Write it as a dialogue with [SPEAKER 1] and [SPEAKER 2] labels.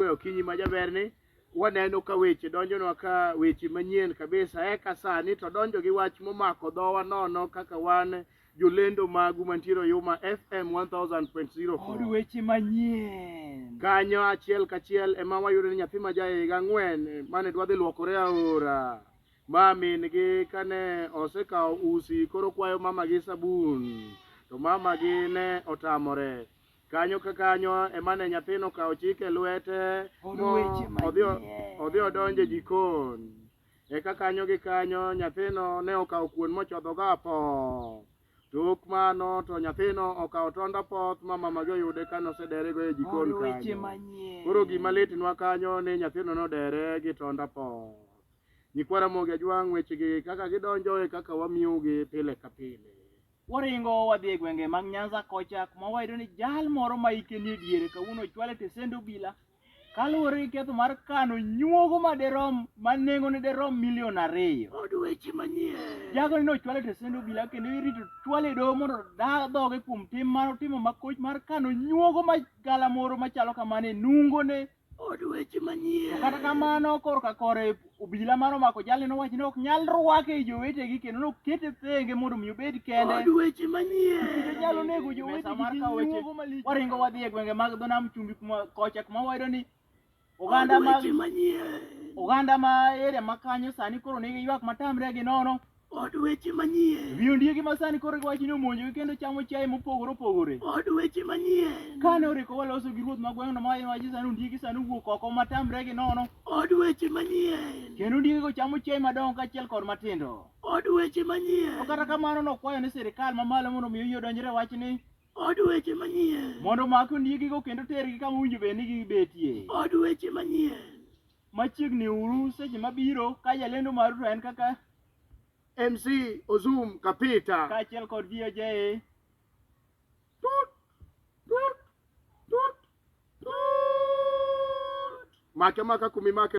[SPEAKER 1] Kwe okinyi ma jaberni waneno ka weche donjonwa ka weche manyien kabisa eka sani to donjo gi wach momako dhowa nono kaka wan jolendo magu mantiere Oyuma FM 1000.0 Kod weche
[SPEAKER 2] manyien. kanyo achiel
[SPEAKER 1] kachiel ema wayudo ni nyathi ma jahiga ang'wen eh, mane dwadhi luokore aora ma min-gi kane osekawo usi koro kwayo mama gi sabun to mama gi ne otamore Kanyo ka kanyo ema ne nyathino okawo chik e lwete odhi odonjo e jikon. Eka kanyo gi kanyo nyathino ne okawo kuon mochodhogo apoth. Tok mano to nyathino okawo tond apoth ma mamagi oyude ka nosederego e jikon kanyo. Koro gima litnwa kanyo ni nyathino nodere gi tond apoth. Nyikwa Ramogi Ajwang' wechegi kaka gidonjo e kaka wamiyogi pile ka pile. Waringo
[SPEAKER 2] wadhi e gwenge mag Nyanza kocha kuma wayudo ni jal moro ma hike nie diere kawuono ochwale tesend obila kaluwore gi ketho mar kano nyuogo ma derom ma nengone derom milion ariyo. Od weche
[SPEAKER 1] manyien. Jagoni ne ochwale tesend
[SPEAKER 2] obila kendo irito chwale e doho mondo da dhoge kuom tim mar otimo makoch mar kano nyuogo ma galamoro machalo kamano e nungone Od weche
[SPEAKER 1] manyien. Kata kamano
[SPEAKER 2] korka kore obila mar omako jalni nowacho ni ok nyal rwake i jowetegi kendo nokete thenge mondo mi obed kende. Od weche manyien.
[SPEAKER 1] Nikech nyalo nego jowetegi
[SPEAKER 2] mar kawo weche. Waringo wadhi e gwenge mag dho nam chumbi kuma kocha kuma wayudo ni oganda mag oganda ma area ma kanyo sani koro nigi ywak matamre gi nono Od weche
[SPEAKER 1] manyien. Wi ondiegi ma sani koro
[SPEAKER 2] giwacho ni omonjogi kendo chamo chiaye mopogore opogore. Od weche
[SPEAKER 1] manyien. Kane oriko waloso
[SPEAKER 2] gi ruoth ma gweng'no ma wacho sani ondiegi sani owuok oko matamre gi nono. Od weche
[SPEAKER 1] manyien. Kendo ondiegego chamo
[SPEAKER 2] chiaye madongo kaachiel kod matindo. Od weche
[SPEAKER 1] manyien. To kata kamano nokwayo
[SPEAKER 2] ni sirkal mamalo mondo omi oyie odonjre e wachni. Od weche
[SPEAKER 1] manyien. Mondo omak ondiegigo
[SPEAKER 2] kendo tergi kama owinjo bed ni gibetie. Od weche manyien.
[SPEAKER 1] machiegni
[SPEAKER 2] uru seche mabiro ka jalendo maru to en kaka MC
[SPEAKER 1] Ozum Kapita. kaachiel kod VOJ.
[SPEAKER 2] Tut,
[SPEAKER 1] tut, tut, tut. Make maka kumi make